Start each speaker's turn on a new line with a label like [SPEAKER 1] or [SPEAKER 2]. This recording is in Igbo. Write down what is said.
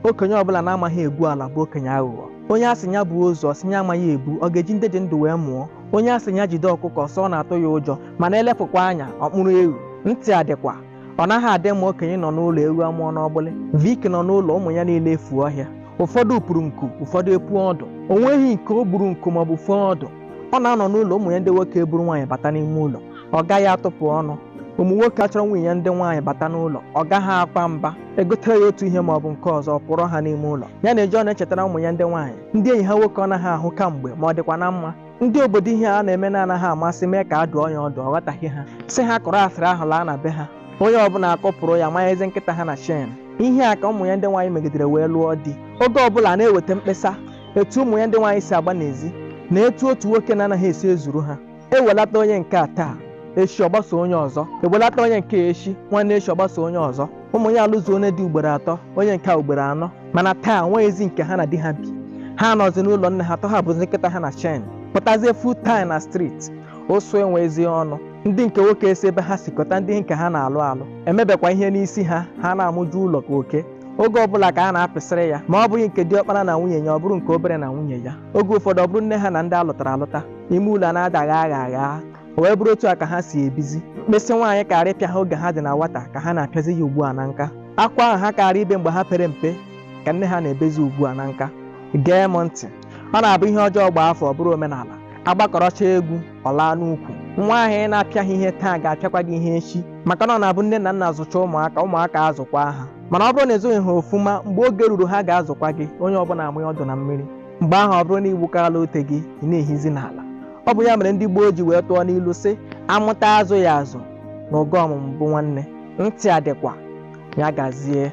[SPEAKER 1] okenye ọbụla na-amaghị egwu ala bụ okenye aghụghọ onye a sị ya buo ozu ọ sị ya amaghị ebu ọ ga-eji ndị dị ndụ wee mụọ onye a sị ya jide ọkụkọ sị ọ na-atụ ya ụjọ mana e lepụkwa anya ọ kpụrụ ewu ntị adịkwa ọ naghị adị mma okenye nọ n'ụlọ ewu amụọ n'ọgbụlị Vic nọ n'ụlọ ụmụ ya niile efuo ọhịa ụfọdụ puru nku ụfọdụ epu ọdụ o nweghị nke o gburu nku maọbụ fụọ ọdụ ọ na-anọ n'ụlọ ụmụ ya ndị nwoke eburu nwaanyị bata n'ime ụlọ ọ gaghị atụpụ ọnụ ụmụ nwoke achọrọ ụmụ ya ndị nwaanyị bata n'ụlọ ọ gaghị akwa mba e gotere ya otu ihe ma ọ bụ nke ọzọ ọ pụọrọ ha n'ime ụlọ ya na eji ọ na-echetara ụmụ ya ndị nwaanyị ndị enyi ha nwoke ọ naghị ahụ kamgbe ma ọ dịkwa na mma ndị obodo ihe a na-eme na-anaghị amasị mee ka a dụọ ya ọdụ ọ ghọtaghị ha sị ha kọrọ asịrị ahụ laa na be ha onye ọbụla akọpụrụ ya manyezi nkịta ha na chain ihe a ka ụmụ ya ndị nwaanyị megidere wee lụọ di oge ọbụla a na-eweta mkpesa etu ụmụ ya ndị nwaanyị si agba n'ezi na etu otu nwoke na-anaghị esi ezuru ha ewelata onye nke a taa echi ọ gbaso onye ọzọ ewelata onye nke echi nwanne echi ọ gbaso onye ọzọ ụmụ ya alụzuo onye di ugboro atọ onye nke a ugboro anọ mana taa nweghịzi nke ha na di ha bi ha nọzi n'ụlọ nne ha tọhapụzi nkịta ha na chain pụtazie full time na street ụsụ enwezi ọnụ ndị nke nwoke esi ebe ha si kpọta ndị nke ha na-alụ alụ emebekwa ihe n'isi ha ha na-amụju ụlọ ka oke oge ọbụla ka a na-apịsịrị ya ma ọ bụghị nke diọkpara na nwunye ya ọ bụrụ nke obere na nwunye ya oge ụfọdụ ọ bụrụ nne ha na ndị alụtara alụta ime ụlọ a na-adagha agha agha o wee bụrụ otu a ka ha si ebizi mkpịsị nwaanyị karị ịpịa ha oge ha dị na nwata ka ha na-apịazi ya ugbu a na nka akwa ahụ ha karị ibe mgbe ha pere mpe ka nne ha na-ebezi ugbu a na nka gee m ntị ọ na-abụ ihe ọjọọ gbaa afọ ọ bụrụ omenala a gbakọrọcha egwu ọ laa n'ukwu nwa ahụ ị na-apịaghị ihe taa ga-apịakwa gị ihe echi maka na ọ na-abụ nne na nna zụcha ụmụaka ụmụaka azụkwa ha mana ọ bụrụ na ị zụghị ha ọfụma mgbe oge ruru ha ga-azụkwa gị onye ọbụla amụghị ọdụ na mmiri mgbe ahụ ọ bụrụ na igbukala ute gị ị na-ehizi n'ala ọ bụ ya mere ndị gboo ji wee tụọ n'ilu sị a mụta a zụọ ya azụ na ụgwọ ọmụmụ bụ nwanne ntị adịkwa ya gazie